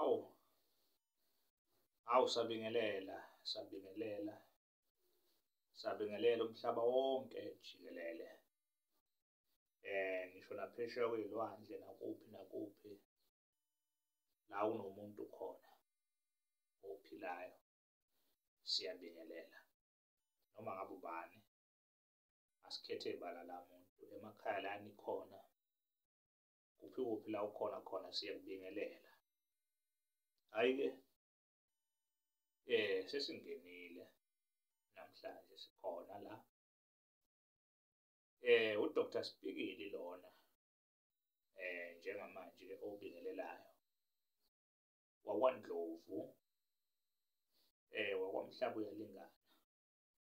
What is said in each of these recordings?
awu awu sabingelela sabingelela sabingelela umhlaba wonke jikelele eh ngisho naphesheya kwezilwandle nakuphi nakuphi la unomuntu khona ophilayo siyabingelela noma ngabe ubani asikhethe bala la muntu emakhaya la nikhona kuphi kuphi la ukhona khona siyakubingelela hhayi-ke um sesingenile namhlanje sikhona la eh uDr Sibhikili lona eh njengamanje obingelelayo wakwaNdlovu eh wakwamhlaba uyalingana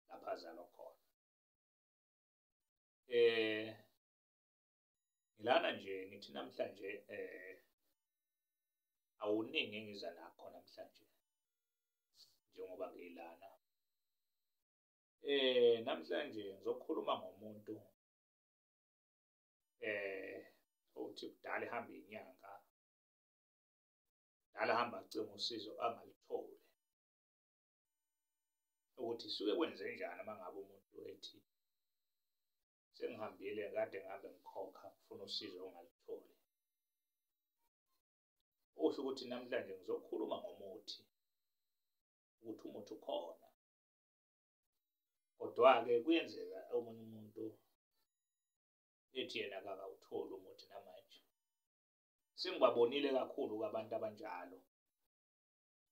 lapha azalwa khona eh ngilana nje ngithi namhlanje eh awuningi engiza nakho namhlanje njengoba ngilana eh namhlanje ngizokhuluma ngomuntu eh othi kudala ehamba inyanga dala hamba acima usizo angalitholi ukuthi suke kwenzenjani uma ngabe umuntu ethi sengihambile kade ngabe ngikhokha ngifuna usizo ongalutholi usho ukuthi namhlanje ngizokhuluma ngomuthi ukuthi umuthi ukhona kodwa-ke kuyenzeka omunye umuntu ethi yena kakawutholi umuthi namanje sengibabonile kakhulu-ke abantu abanjalo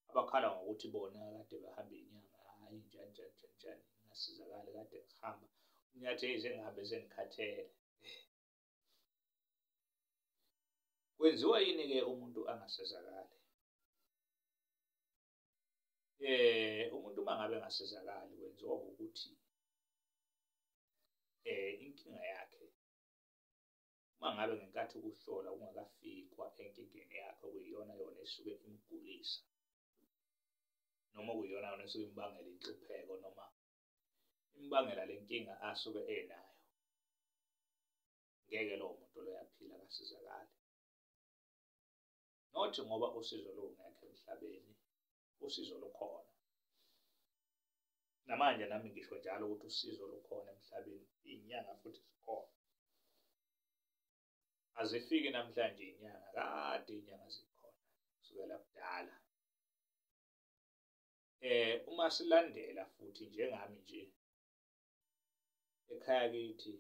abakhala ngokuthi bona kade behambe inyanga hayi njani njani njani njani ngasizakali kade ngihamba unyathi eyize ngihambe sengikhathele kwenziwa yini-ke umuntu angasizakali eh umuntu uma ngabe engasizakali kwenziwa ukuthi eh inkinga yakhe uma ngabe ngenkathi ukuhlola kungakafikwa enkingeni yakhe okuyiyona yona esuke imgulisa noma okuyiyona yona esuke imbangela inhlupheko noma imbangela le nkinga asuke enayo ngeke lowo muntu loyaphila kasizakale nothi ngoba usizo lungekho emhlabeni usizo lukhona namanje nami ngisho njalo ukuthi usizo lukhona emhlabeni inyanga futhi zikhona azifiki namhlanje inyanga kade inyanga zikhona kusukela kudala eh uma silandela futhi njengami nje ekhaya kithi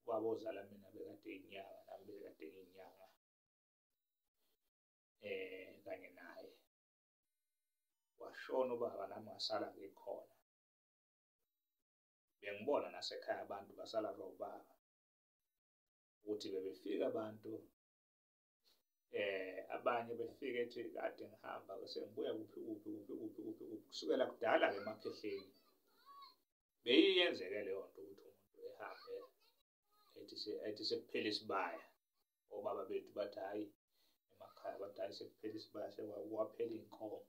babozala mina bekade inyanga nami bekade inyanga eh kanye naye washona ubaba nami wasala ngikhona bengibona nasekhaya abantu basala kobaba ukuthi bebefika abantu eh abanye befike ethi kade ngihamba sengibuya kuphi kuphi kuphi kuphi kuphi kuphi kusukela kudala ke emakhehleni beyiyenzeke leyo nto ukuthi umuntu ehambe ethi sekuphela isibaya obaba bethu bathi hhayi emakhaya bathi hhayi sekuphela isibaya sekwaphela iy'nkomo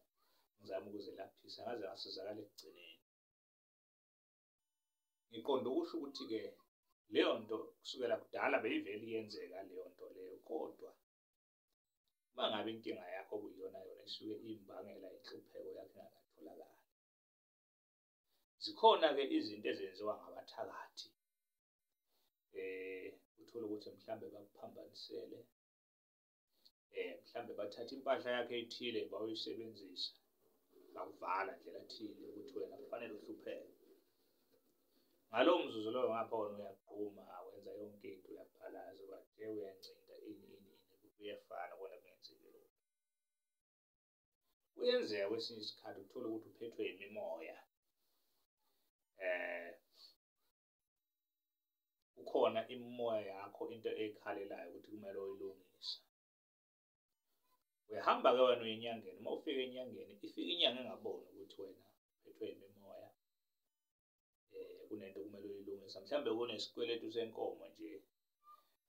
ngizama ukuzelaphisa ngaze ngasizakala ekugcineni ngiqonda ukusho ukuthi-ke leyo nto kusukela kudala beyivele iyenzeka leyo nto leyo kodwa uma ngabe inkinga yakho kuyiyona yona isuke imbangela inhlupheko yakhe ingakatholakali zikhona-ke izinto ezenziwa ngabathakathi um uthole ukuthi mhlawumbe bakuphambanisele um mhlawumbe bathatha impahla yakhe ethile bawuyisebenzisa bakuvala ndlela thile ukuthi wena kufanele uhlupheke ngalowo mzuzu loyo ngapha wona uyagquma awenza yonke into uyaphalaza ubathe uyancinda ini ini ini kuyefana kona kungenzeki lokho kuyenzeka kwesinye isikhathi uthole ukuthi uphethwe yimimoya eh kukhona imimoya yakho into ekhalelayo ukuthi kumele uyilungise uyahamba ke wena uyinyangeni uma ufika enyangeni ifika inyanga engaboni ukuthi wena uphethwe yimimoya eh kunento kumele uyilungisa mhlawumbe kunesikweletu senkomo nje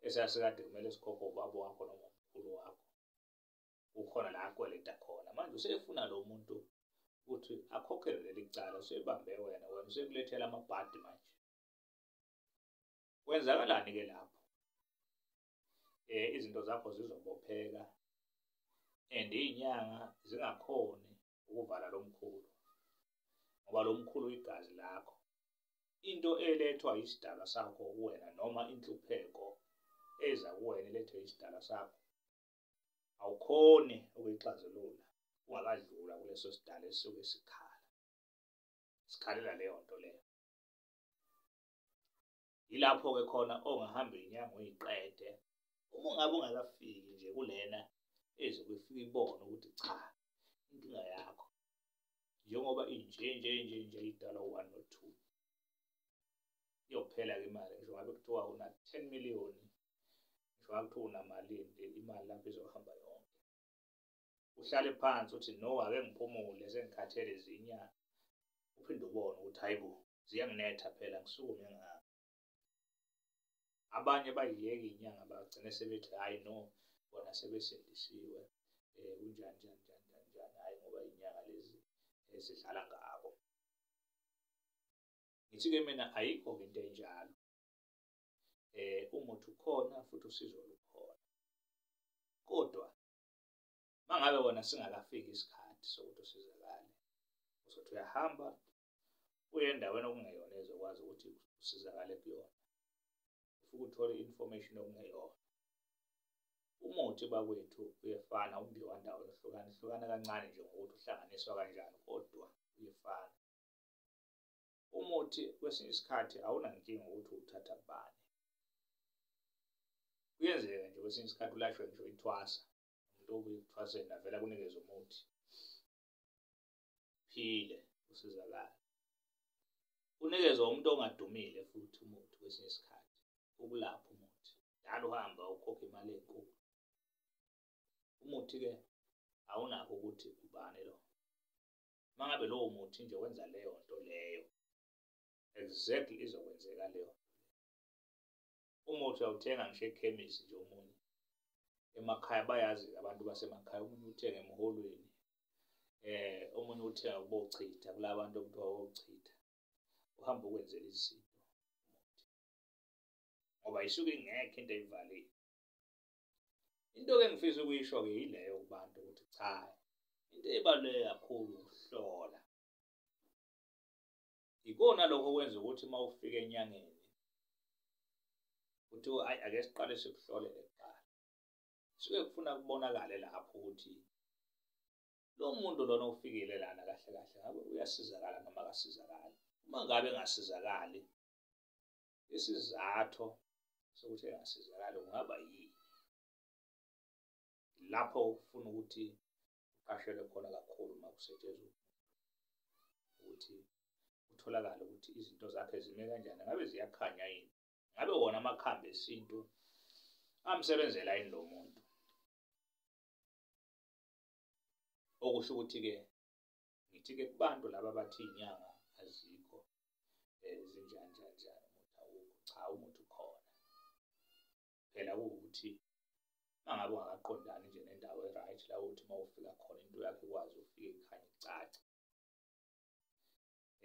esasikade kumele sikhokhe ubaba wakho noma umkhulu wakho kukhona la akweleta khona manje usefuna lo muntu ukuthi akhokhele leli cala usebambe wena wena usekulethela amabhadi manje kwenzakalani ke lapho eh izinto zakho zizobopheka and izinyanga zingakhoni ukuvala lomkhulu ngoba lomkhulu igazi lakho into elethwa isidalwa sakho kuwena noma inhlupheko eza kuwena elethwe isidalwa sakho awukhoni ukuyixazulula ungakadlula kuleso sidala esuke sikhala sikhalela leyo nto leyo yilapho ke khona ongahamba inyanga uyiqede uma ungabe ungakafiki nje kulena ezobe ifike ibone ukuthi cha inkinga yakho njengoba inje nje nje nje idala u-one no two iyophela ke imali ngisho ngabe kuthiwa una-ten million ngisho ngabe kuthiwa unamalini nje imali lapho izohamba yonke uhlale phansi uthi no ake ngiphumule sengikhathele zinyanga uphinde ubone ukuthi hayi bo ziyanginetha phela ngisukume ngami abanye bayiyeka inyanga bagcine sebethi hayi no bona sebesindisiwe um kunjani njani njani njani njani hhayi ngoba inyanga lezi esidlala ngabo ngithi-ke mina ayikho-ke into enjalo eh umuthi ukhona futhi usizo lukhona kodwa mangabe wona singakafiki isikhathi sokuthi usizakale uzothi uyahamba uye endaweni okungeyona ezokwazi ukuthi usizakale kuyona ufuke uthole i-information okungeyona umuthi bakwethu uyefana umbiwa ndawo ehlukana hlukana kancane nje ngokuthi uhlanganiswa kanjani kodwa uyefana umuthi kwesinye isikhathi awunankinga ukuthi uthatha kubani kuyenzeka nje kwesinye isikhathi ulashwe nje uyithwasa umuntu obuye ekuthwaseni avela kunikeza umuthi phile usizakala unikezwa umuntu ongadumile futhi umuthi kwesinye isikhathi ukulapha umuthi njalo uhamba ukhokha imali enkulu umuthi-ke awunakho ukuthi ubani lo uma ngabe lowo muthi nje wenza leyo nto leyo exactly izokwenzeka leyo umuthi awuthenga ngisho ekhemisi nje omunye emakhaya bayazi abantu basemakhaya omunye uthenga emholweni eh omunye uthenga kubochitha kulabantu okuthiwa wochitha uhamba ukwenzela izinto ngoba isuke ingekho into eyivalile Into-ke engifisa ukuyisho-ke yileyo kubantu ukuthi cha, into ebaluleke kakhulu ukuhlola. Yikona lokho okwenza ukuthi uma ufika enyangeni kuthiwa ayi ake siqale sikuhlolele kuqala. Suke kufuna kubonakale lapho ukuthi lo muntu lona ofikile lana kahle kahle ngabe uyasizakala noma akasizakali. Uma ngabe engasizakali isizathu sokuthi engasizakali kungaba yini lapho ufuna ukuthi uqashelwe khona kakhulu uma kusetshenzwa ukuthi kutholakale ukuthi izinto zakhe zime kanjani ngabe ziyakhanya yini ngabe wona amakhambi esintu amsebenzela yini lo muntu okusho ukuthi-ke ngithi-ke kubantu laba abathi iy'nyanga azikho um zinjani njani njani umuthi awukho cha umuthi ukhona phela kuwukuthi mangabe ungakaqondani nje nendawo e-right la ukuthi uma ufika khona into yakho ikwazi ufike ikhanye icace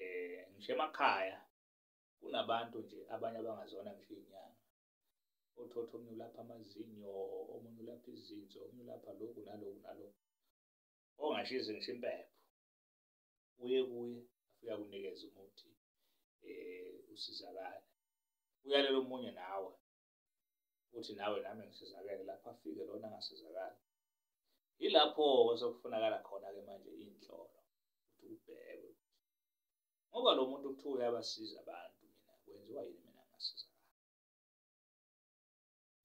eh ngisho emakhaya kunabantu nje abanye abangazona ngisho inyanga othotho omunye ulapha amazinyo omunye ulapha izinso omunye ulapha lokhu naloku naloku ongashizi ngisho impepho uye kuye afika kunikeza umuthi eh usizakala uyalela omunye nawe uthi nawe nami ngisizakele lapho afike lona angasizakala yilapho osokufunakala khona ke manje inhlolo ukuthi ubheke ngoba lo muntu kuthiwa uyabasiza abantu mina kwenziwa yini mina ngasizakala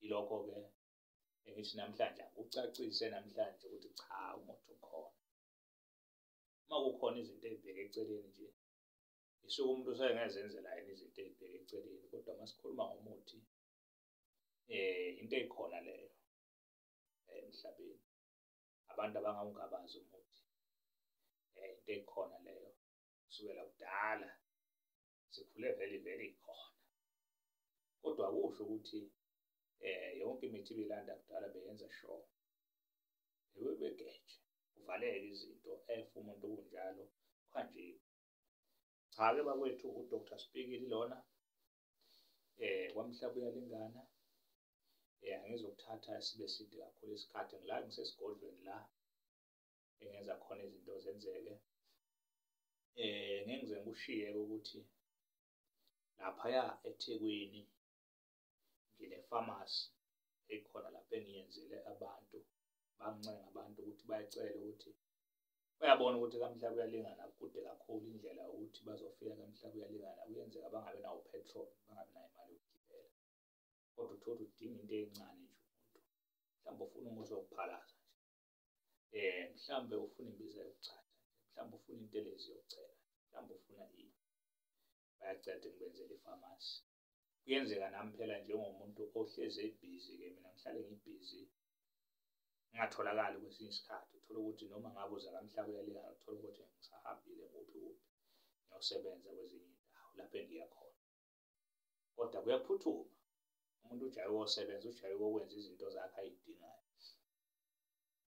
ilokho ke engithi namhlanje akucacise namhlanje ukuthi cha umuthi ukhona uma kukhona izinto ezibheke eceleni nje isuke umuntu usengezenzela yena izinto ezibheke eceleni kodwa uma sikhuluma ngomuthi eh into ekhona leyo eh, emhlabeni abantu abangawungabazi umuthi eh into ekhona leyo kusukela kudala sikhule vele vele ikhona kodwa kusho ukuthi eh yonke imithi bilanda kudala beyenza show ewe begeje uvaleke izinto efa umuntu kunjalo kanje cha ke bakwethu uDr Spikili lona eh kwamhlaba uyalingana eh angizokuthatha sibe side kakhulu isikhathi ngila ngisesigodlweni la engenza khona izinto zenzeke eh ngeke ngize ngikushiye ukuthi laphaya eThekwini ngine pharmacy ekhona lapho engiyenzele abantu bangincenge abantu ukuthi bayacela ukuthi bayabona ukuthi kamhla kuyalingana kude kakhulu indlela ukuthi bazofika kamhla kuyalingana kuyenzeka bangabe nawo petrol bangabe nayo imali yokugibela kodwa uthola udinga into encane nje umuntu mhlawumbe ufuna umuthi wokuphalaza eh mhlambe ufuna imbiza yokuchatha mhlambe ufuna intelezi yokucela mhlambe ufuna ini bayaceda ngibenzela ifamasi kuyenzeka nami phela njengomuntu ohlezi ebhizi ke mina ngihlale ngibhizi ngingatholakali kwesinye isikhathi uthole ukuthi noma ngabe uza kamhlaba uyalingana uthole ukuthi ngisahambile kuphi kuphi ngiyosebenza kwezinye indawo lapho engiya khona kodwa kuyaphuthuma umuntu ujaye wosebenza ujaye wokwenza izinto zakhe ayidingayo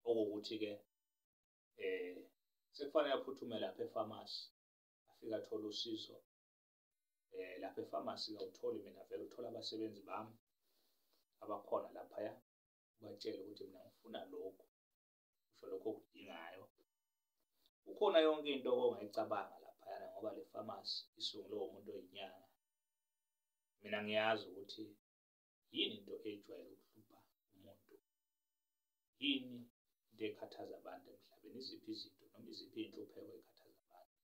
okuwukuthi-ke eh sekufanele aphuthume lapha efamasi afike athole usizo eh lapha efamasi kawutholi mina vele uthola abasebenzi bami abakhona laphaya ubatshele ukuthi mina ngifuna lokhu usho lokho okudingayo kukhona yonke into ongayicabanga laphayana ngoba le famasi isungulwe umuntu oyinyanga mina ngiyazi ukuthi yini into ejwayele ukuhlupha umuntu yini into ekhathaza abantu emhlabeni iziphi izinto noma iziphi iy'nhlupheko ekhathaza abantu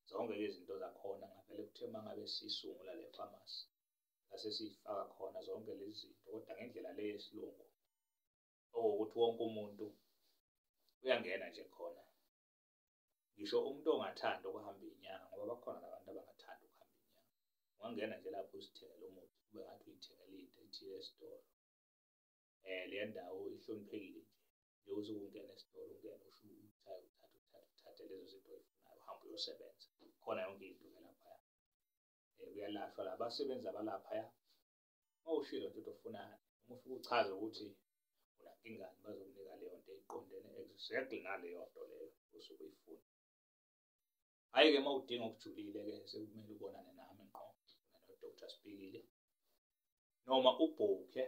zonke-ke izinto zakhona ngavele kuthe uma ngabe siyisungula le famasi sase siyifaka khona zonke lezi zinto kodwa ngendlela le yesilungu owokuthi wonke umuntu uyangena nje khona ngisho umuntu ongathanda ukuhamba inyanga ngoba bakhona nabantu abangathanda ukuhamba inyanga ungangena nje lapho uzithengele umuthi ube ngathi uyithengele into ethile esitolo um le ndawo ihloniphekile nje njengokuthi ukungena esitolo ungene usho uthathe uthathe uthathe uthathe lezo zinto oyifunayo uhambe uyosebenza khona yonke into ke laphaya um kuyalashwa la basebenzi abalaphaya uma ushilo nje ufunani uma ufike uchaze ukuthi unankingani bazokunika leyo nto eqondene exactly naleyo nto leyo osuke uyifuna hhayi-ke uma udinga okujulile-ke sekumele ubonane nami ngqo nodr sibikile noma ubhukhe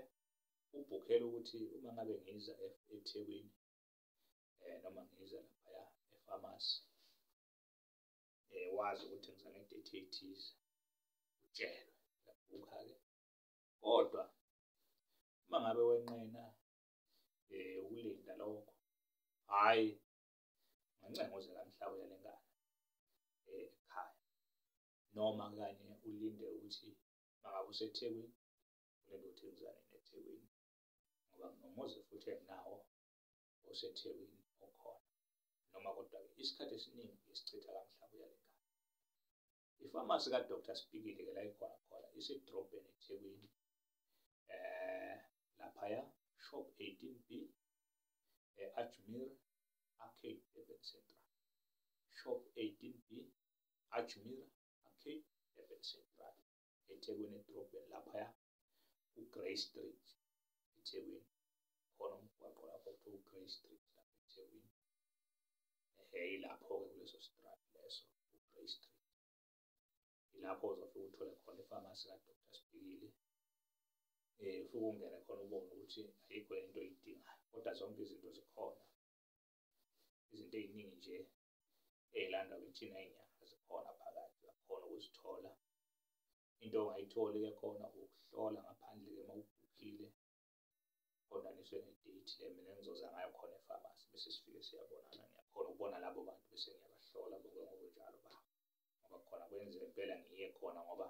ubhukhele ukuthi uma ngabe ngiza e-, ethekwini um noma ngiza laphaya efamasi eh wazi ukuthi ngizana idate ethize utshelwe uyabhukha ke kodwa uma ngabe wenqena eh ukulinda lokho hayi ngancenga uze kamhlawula lengane eh, ekhaya noma kanye ulinde ukuthi mangabe usethekwini ulinde ukuthi ngizane nethekwini ngoba nginomuzi futhi enginawo osethekwini okhona noma kodwa-ke isikhathi esiningi esichitha kamhlaba uyale ngane ifamasi kadr sibikile ke la ikhona khona isedrobheni ethekwini um laphaya shop 18 b e-ajmir arcade durban central shop 18 b ajmir arcade durban central ethekwini edrobheni laphaya uGrey Street eThekwini khona umgwaqo lapho kuthiwa uGrey Street lapho eThekwini ehe ilapho-ke kuleso strat leso uGrey Street ilapho uzofike uthole khona ifamasi kaDr Sibhikili um eh, ufike ungene khona ubone ukuthi ayikho into oyidingayo kodwa zonke izinto zikhona izinto ey'ningi nje ey'landwa kithina inyanga zikhona phakathi uyakhona ukuzithola into ongayitholi ke khona ukuhlola ngaphandle ke mawubhukhile qondaniswe ne-date le mina engizoza ngayo khona efamasi bese sifike siyabonana ngiyakhona ukubona labo bantu bese ngiyabahlola bonke ngokunjalo ba ngoba khona kwenzeka impela ngiye khona ngoba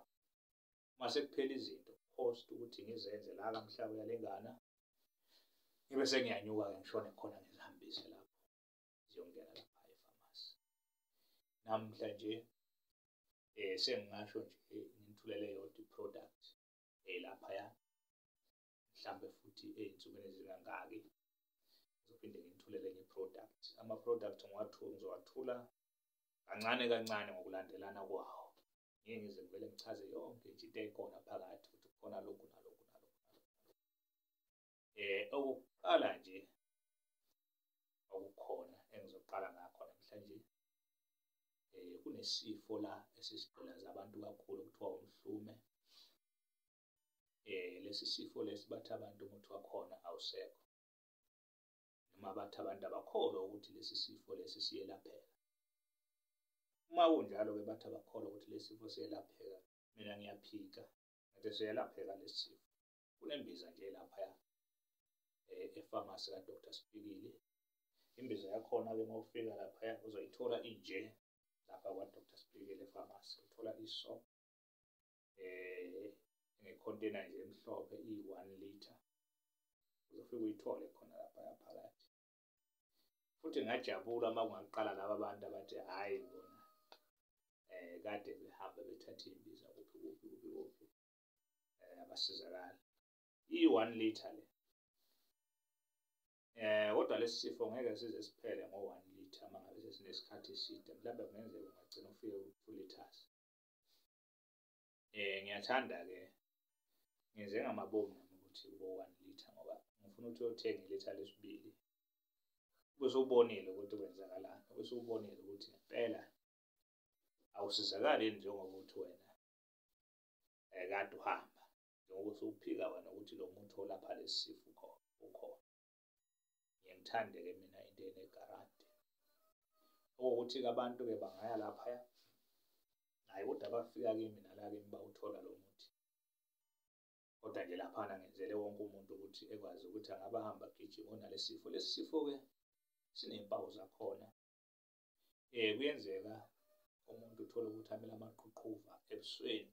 uma sekuphela izinto post ukuthi ngizenze la kamhlaba uyalengana ngibe sengiyanyuka-ke ngishone khona ngizihambise lapho ziyongena lapha efamasi namhla nje eh sengingasho nje ngithulele yodwa iproduct eh lapha ya mhlambe futhi ezinsukwini ezingangaki ngizophinde ngithulele enye product ama product ngiwathula ngizowathula kancane kancane ngokulandelana kwawo ngeke ngize ngivele ngichaze yonke nje into ekhona phakathi ukuthi khona lokhu nalokhu eh okuqala nje okukhona engizoqala ngakho namhlanje eh kunesifo la esisigqilaza abantu kakhulu kuthiwa umhlume eh lesi sifo lesi bathi abantu umuthi wakhona awusekho noma bathi abantu abakholwa ukuthi lesi sifo lesi siyelapheka uma kunjalo ke bathi abakholwa ukuthi lesi sifo siyelapheka mina ngiyaphika ngathi siyelapheka lesi sifo kunembiza nje laphaya eh, efamasi kadr sipikile imbiza yakhona ke uma ufika laphaya uzoyithola inje lapha kwadr sipikile efamasi uthola iso eh ngekhontena nje emhlophe iyi-one liter uzofike uyithole khona laphaya phakathi futhi ngajabula uma kungaqala laba bantu abathi hhayi bona um kade behambe bethathe imbiza kuphi kuphi kuphi kuphi eh, abasizakala i-one liter le eh kodwa lesi sifo ngeke size siphele ngo-one liter uma ngabe sesinesikhathi eside mhlawumbe kungenzeka ungagcina ufike ku-two liters eh ngiyathanda-ke ngenze ngamabomu nami ukuthi kubo-one liter ngoba ngifuna ukuthi uyothenga ilitha lesibili bese ubonile ukuthi kwenzakalani bese ubonile ukuthi ngempela awusizakali njengoba uthi wena eh, kanti uhamba njengoba usuphika wena ukuthi lo muntu olapha lesi sifo ukhona ukhona ngiyangithande-ke mina into enegaranti okuwukuthi-ke abantu-ke bangaya laphaya naye kodwa abafika kimi nala kimi bawuthola lo muthi kodwa nje laphana ngenzele wonke umuntu ukuthi ekwazi ukuthi angaba hamba gijima onalesifo lesifo ke sinempawu zakhona um kuyenzeka umuntu uthole ukuthi amele amaqhuqhuva ebusweni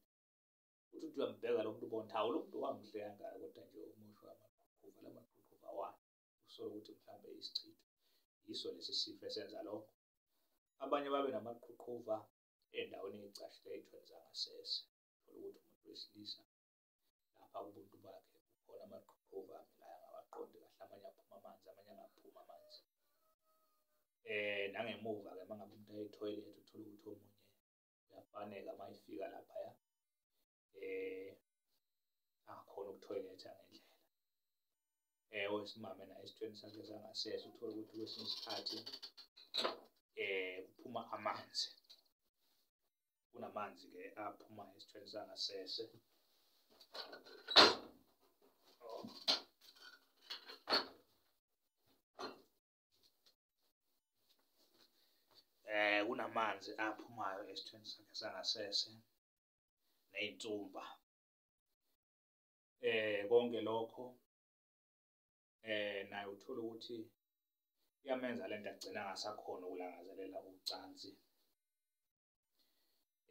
uthi uthi uyambheka lo muntu ubona hawu lo muntu wangihle kangaka kodwa nje umusho amaqhuqhuva la maqhuqhuva wani usole ukuthi mhlawumbe isichitho yiso lesi sifo esenza lokho abanye babe namaqhuqhuva endaweni eyicashile ey'thweni zangasese thola ukuthi umuntu wesilisa lapha ubuntu bakhe kukhona amaqhuqhuva ame la angawaqondi kahle amanye aphuma amanzi amanye angaphumi amanzi eh nangemuva ke mangabe umuntu aye toilet uthola ukuthi omunye uyafaneka mayifika lapha ya eh akhona ukutoilet ngendlela eh owesimame naye esithweni sakhe sangasese uthola ukuthi kwesinye isikhathi eh kuphuma amanzi kunamanzi ke aphuma esithweni sangasese eh kunamanzi aphumayo esithweni sakhe sangasese neyintsumba eh konke lokho eh naye uthola ukuthi iyamenza lento agcina ngasakhona ukulangazelela ucansi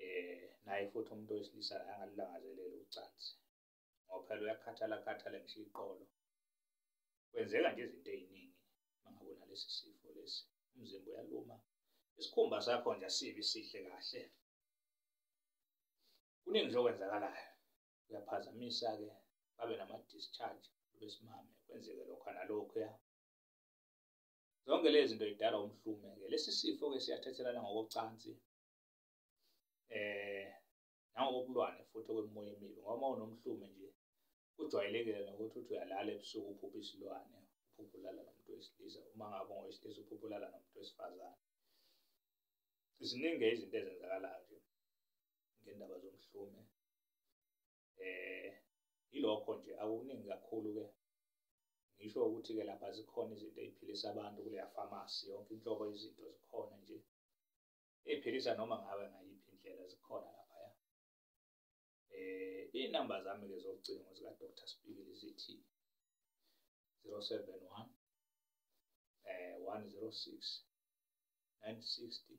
eh naye futhi umuntu wesilisa angalulangazeleli ucansi ngoba phela uyakhathala khathala ngisho iqolo kwenzeka nje izinto eziningi mangabona lesi sifo lesi umzimba uyaluma isikhumba sakho nje asibi sihle kahle kuningi nje okwenzakalayo kuyaphazamisa-ke babe nama-discharge besimame kwenzeke lokho nalokhuya zonke lezi zinto zidala umhlume-ke lesi sifo-ke siyathathelana ngokocansi eh nangokokulwane futhi okwemoya emibi ngoba unomhlume nje kujwayelekile nokuthi uthi uyalala ebusuku uphupha isilwane uphupha ulala nomuntu wesilisa uma ngabe ungowesilisa uphupha ulala nomuntu wesifazane ziningi izinto ezenzakalayo nje ngendaba zomhlume eh ilokho nje akuningi kakhulu ke ngisho ukuthi ke lapha zikhona izinto eziphilisa abantu kuleya pharmacy yonke inhlobo izinto zikhona nje eziphilisa noma ngabe ngayiphi indlela zikhona lapha ya eh inamba zami ke zocingo zika Dr Spikili zithi 071 eh 106 960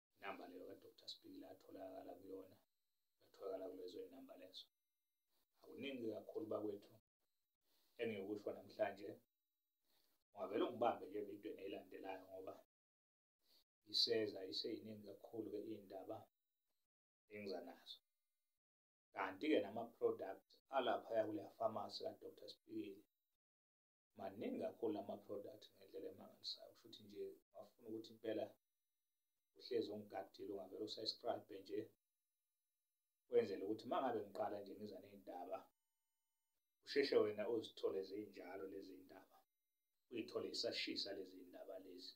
inamba leyo kadr sibhikile atholakala kuyona atholakala kulezo zinamba lezo akuningi kakhulu bakwethu engiyokusho namhlanje ungavele ungibambe nje evidweni eyilandelayo ngoba iseza iseyiningi kakhulu-ke iy'ndaba engiza nazo kanti-ke nama-product alaphaya kuleya famasi kadr sibhikile maningi kakhulu ama-product ngendlela emangalisayo kusho ukuthi nje wafuna ukuthi impela uhlezi ungigadile ungavele usescribe nje wenzele ukuthi uma ngabe ngiqala nje ngiza ney'ndaba usheshe wena uzithole zinjalo lezi ndaba uyithole isashisa lezi ndaba lezi